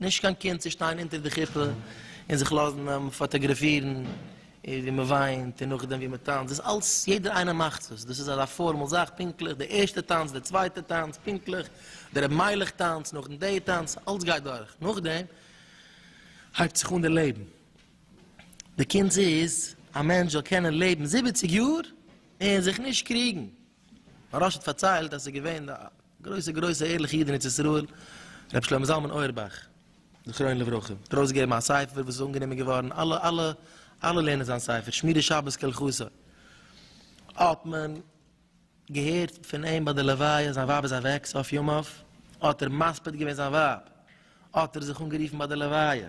נישט קיין קינד צו שטיין אונטער די חופה און זיך לאזן פאטאגראפירן ווי מען וויינט און נאכדעם ווי מען טאנצט, דאס אלס יעדער איינער מאכט עס, דאס איז אזא פארמעל זאך, פונקטליך די ערשטע טאנץ, די צווייטע טאנץ, פונקטליך די רבי מיילעך טאנץ, נאכדעם די טאנץ, אלס גייט דורך, נאכדעם הייבט זיך אן די לעבן, די קונץ איז א מענטש זאל קענען לעבן זיבעציג יאר און זיך נישט קריגן. הרב האט פארציילט אז עס איז געווען א גרויסע גרויסע ערליכע איד אין ארץ ישראל ר' שלמה זלמן אויערבאך זכרונו לברכה האט ארויס געגעבן א ספר וואס איז אנגענומען געווארן אלע אלע אלע לערנען זיין ספר שמירת שבת כהלכתה האט מען געהערט פון אים ביי די לוויה זיין ווייב איז אוועק סוף ימיו האט ער מספיד געווען זיין ווייב האט ער זיך אנגערופן ביי די לוויה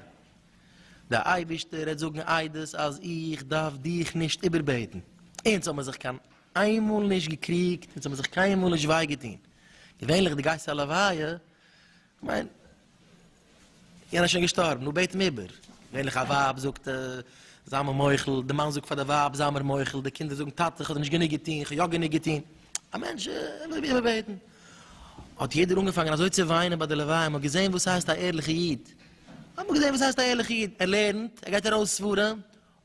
דער אייבערשטער רעדט זאגן עדות אז איך דארף דיך נישט איבער בעטן אונז האבן זיך קיין איינמאל נישט געקריגט און ס'האמיר זיך קיינמאל נישט וויי געטון, געווענליך די גייסט א לוויה, כ'מיין יענער איז שוין געשטארבן נו בעט אים איבער, געווענליך א ווייב זאגט זיי מיר מוחל, די מאן זאגט פאר די ווייב זיי מיר מוחל, די קינדער זאגן טאטע כ'האב דיר נישט גענוג געטון, כ'האב יא גענוג געטון, א מענטש ער וויל איבער בעטן, האט יעדער אנגעפאנגען אזוי צו וויינען ביי די לוויה, מ'האט געזען וואס הייסט א ערליכע איד, האט מען געזען וואס הייסט א ערליכע איד, ער לערנט, ער גייט ארויס ספרים,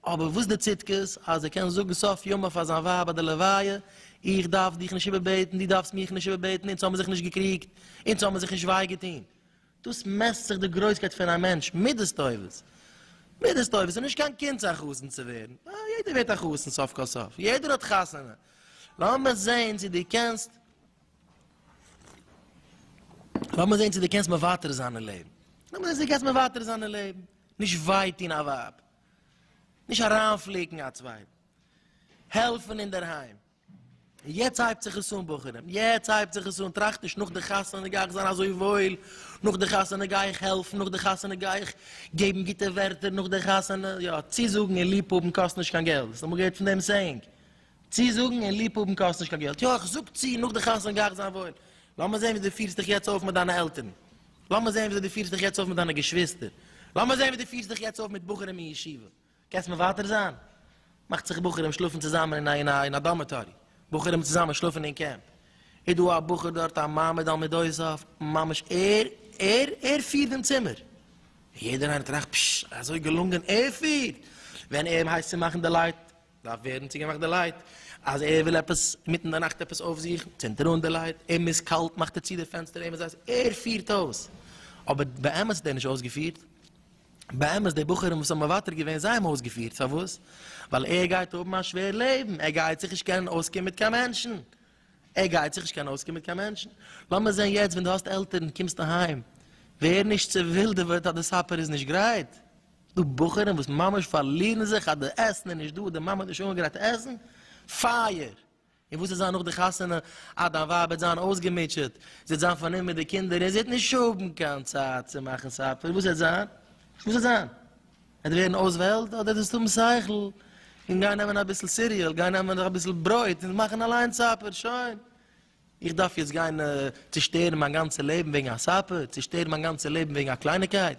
אבער וואס די צדקות אז ער קען זאגן סוף ימיו פאר זיין ווייב ביי די לוויה, איך דארף דיך נישט איבערבעטן, דו דארפסט מיך נישט איבערבעטן, אונז האבן זיך נישט געקריגט, אונז האבן זיך נישט וויי געטון. דאס מעסט זיך די גרויסקייט פון א מענטש, מידות טובות. מידות טובות איז נישט קיין קונץ א חתן צו ווערן, יעדער ווערט א חתן סוף כל סוף, יעדער האט חתונה. לאמיר זען צו דו קענסט, לאמיר זען צו דו קענסט מוותר זיין אין לעבן, לאמיר זען צו דו קענסט מוותר זיין אין לעבן, נישט וויי טון א ווייב, נישט אריינפליקן א צווייטן, העלפן אינדערהיים, און יעצט הייבט זיך עס אן בחורים, יעצט הייבט זיך עס אן, טראכט נישט נאך די חתונה גיי איך זיין אזוי וואויל, נאך די חתונה גיי איך העלפן, נאך די חתונה גיי איך געבן גוטע ווערטער, נאך די חתונה, יא, צוזאגן און ליב האבן קאסט נישט קיין געלט, האסט אמאל געהערט פון דעם סעיאינג? צוזאגן און ליב האבן קאסט נישט קיין געלט, יא, איך זאג צו, נאך די חתונה גיי איך זיין וואויל, לאמיר זען ווי דו פירסט דיך יעצט אויף מיט דיינע עלטערן. לאמיר זען וויאזוי דו פירסט דיך יעצט אויף מיט דיינע געשוויסטער, לאמיר זען ווי דו פירסט דיך יעצט אויף מיט בחורים אין ישיבה, קענסט מוותר זיין? מאכט זיך בחורים שלאפן צוזאמען אין א דארמעטארי, בחורים צוזאמען שלאפן אין קעמפ, איז דא א בחור דארט א מעמד על מידותיו, ממש ער, ער, ער פירט דעם צימער, און יעדער איינער טראכט, פששש, אזוי געלונגען, ער פירט, ווען ער הייסט צו מאכן די לייט, דארף ווערן צוגעמאכט די לייט, אז ער וויל עפעס מיטן די נאכט עפעס אויפזוכן, צינדט ער אן די לייט, אים איז קאלט מאכט ער צו די פענסטער, אים איז הייס, ער פירט אויס, אבער באמת האט ער נישט אויסגעפירט, באמת די בחורים וואס האבן מוותר געווען זיי האבן אויסגעפירט, פארוואס? ווייל ער גייט האבן א שווער לעבן, ער גייט זיך נישט קענען אויסקומען מיט קיין מענטשן, ער גייט זיך נישט קענען אויסקומען מיט קיין מענטשן, לאמיר זען יעצט ווען דו האסט עלטערן קומסט אהיים, ווער נישט צו ווילדעוועט אז די סאפער איז נישט גרייט. ס'דא בחורים וואס ממש פארלירן זיך אז די עסן איז נישט דא, די מאמע האט נישט אנגעגרייט עסן, פייער! און וואס וועט זיין נאך די חתונה? אה, דיין ווייב וועט זיין אויסגעמוטשעט, זי וועט זיין פארנומען מיט די קינדער און זי וועט נישט האבן קיין צייט צו מאכן סאפער, וואס וועט זיין? וואס וועט זיין? וועט ווערן אויסוועלט? אדער וועסטו האבן שכל און גיין נעמען אביסל סיריעל, גיין נעמען אביסל ברויט און מאכן אליינס סאפער, שוין! איך דארף יעצט גיין צושטערן מיין גאנצע לעבן וועגן א ספה? צושטערן מיין גאנצע לעבן וועגן א קלייניגקייט?